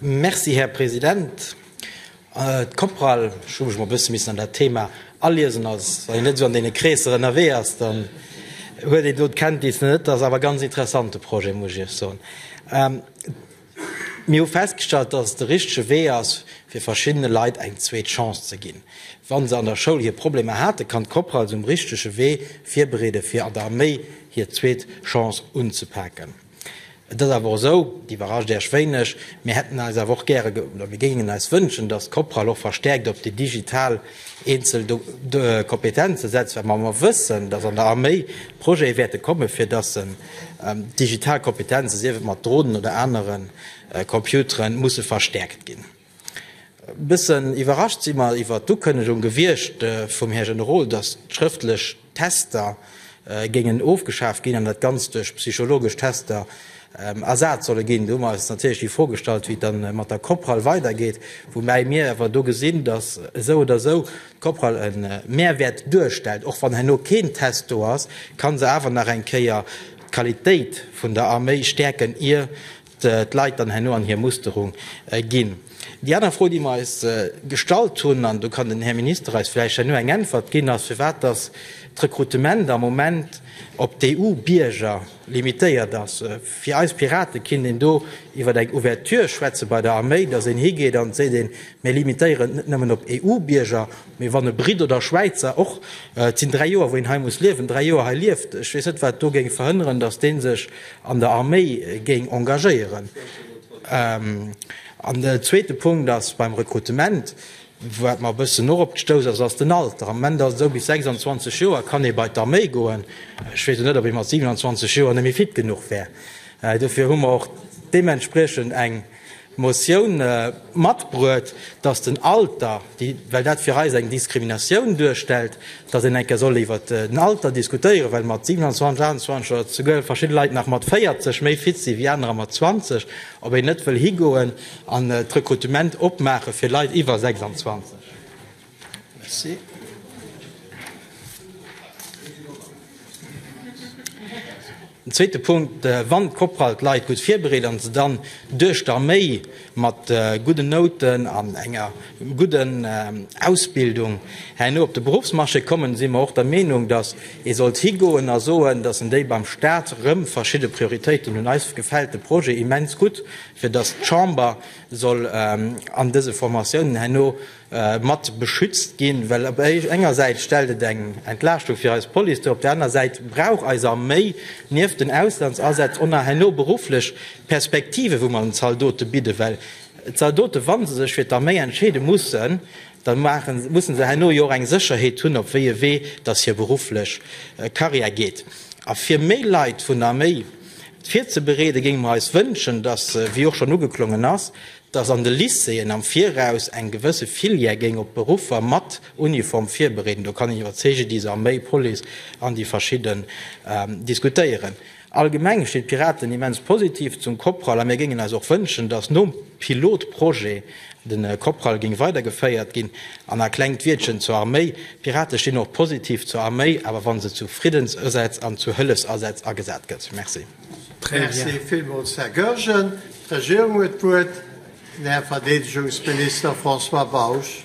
Merci, Här President. D'Coprale, ech hu mech mol e bësse missen an dat Thema aliesen. Als een net esou an deene Kreesser ënnerwee ass, dann huet een do d'Kenntnis net. Dat ass awer e ganz interessante Projet, muss ech Iech soen. Mir hu festgestallt, dass et de richtege Wee ass, fir verschiddene Leit eng zweet Chance ze ginn, wa se an der Schoul hir Problemer haten. Kann d'Coprale se um richtege Wee virbereeden, fir an der Arméi hir zweet Chance unzepaken? Et ass awer och esou, et iwwerrascht Äech wéineg, mir hätten eis awer och gäre oder mir géingen eis wënschen, datt d'Coprah och verstärkt op déi digital eenzel Kompetenze setzt, well mer mer wëssen, datt an der Arméi Projete wäerte kommen, fir datt se digital Kompetenze, sief et mat Dronen oder anere Computeren, musse verstärkt ginn. Bëssen iwwerrascht si mer iwwert d'Ukënnegung gewiescht vum Här Generol, datt d'schrëftlech Tester géingen ofgeschaaft ginn an dat Ganzt duerch psychologesch Tester ersat solle ginn. Do hu mer eis natierlech déi Fro gestallt, wéi et dann mat der Coprale weidergeet, woubäi mir awer do gesinn, datt esou oder esou d'Coprale e Mehrwäert duerstellt. Och wann herno keen Test do ass, ka se awer nach eng Kéier d'Qualitéit vun der Arméi stäerken, ier d'Leit dann herno an hir Musterung ginn. Déi aner Fro, déi mer eis gestallt hunn, an do kann den Här Minister eis vläicht herno eng Äntwert ginn, ass, firwat dass d'Rekrutement am Moment op d'EU-Bierger limitéiert ass. Fir eis Piraten kinnt een do iwwer eng Ouverture schwätze bei der Arméi, dass een higeet an seet, een, mir limitéieren et net nëmmen op EU-Bierger, Mee wann e Britt oder Schwäizer och, et sinn dräi Joer wou een hei muss liewen, dräi Joer hei lieft, ech weess net wat do géing verhënneren, datt dee sech an der Arméi géing engagéieren. An den zweete Punkt ass beim Rekrutement, wat mer e bëssen och op gestouss ass, ass den Alter. Am Moment ass et esou, bis 26 Joer kann ee bei d'Arméi goen. Ech weess elo net, ob ee mat 27 Joer net méi fit genuch wär. Dofir hu mer och deementspriechend eng. Motioun matbruet, dass den Alter, well dat fir eis eng Diskriminatioun duerstellt, dass een eng Kéier soll iwwert den Alter diskutéieren, well mat 27, 28 oder souguer verschidde Leit nach mat 40 méi fit sinn wéi anerer mat 20, ob een net wëll higoen an d'Rekrutement opmaache fir Leit iwwer 26. Merci. Den zweete Punkt, äh, wann d'Korpral d'Leit gutt virbereet an se dann duerch d'Arméi mat äh, gudden Nouten an enger gudden äh, Ausbildung herno op de Berufsmarché kommen, si mer och der Meenung, datt ee sollt higoen a soen, datt en déi beim Stat rëm verschidde Prioritéiten hunn. Eis gefält de Projet immens gutt, fir datt d'Chamber soll äh, an dëse Formatiounen herno, mat beschützt ginn, well op enger Säit stellt et eng Entlaaschtung fir eis Police duer, op der anerer Säit brauch eis Arméi nieft den Auslandsasätz och nach herno berufflech Perspektiven, wou mer den Zaldote bidden, well d'Zaldote, wa se sech fir d'Arméi entscheede mussen, da musse se herno jo och eng Sécherheet hunn, op wéi e Wee dass hir berufflech Karriär geet. A fir méi Leit vun der Arméi virzebereeden, géinge mer eis wënschen, dass, wéi och schonn ugeklongen ass, dass an de Lycéeën am Viraus eng gewësse Filière géing op d'Beruffer mat Uniform virbereeden. Do kann een iwwer CGDIS, Arméi, Police an déi verschidden diskutéieren. Allgemeng stinn d'Piraten immens positiv zum COPRAL a mir géingen eis och wënschen, dass nom Pilotprojet de COPRAL géing weidergeféiert ginn. An a klengt Wiertchen zur Arméi, D'Pirate stinn och positiv zur Arméi, awer wa se zu Friddensësätz an zu Hëllefsasätz agesat gëtt. Merci. Merci villmools, Här Goergen. D'Regierung huet d'Wuert, den Här Verdeedegungsminister François Bausch.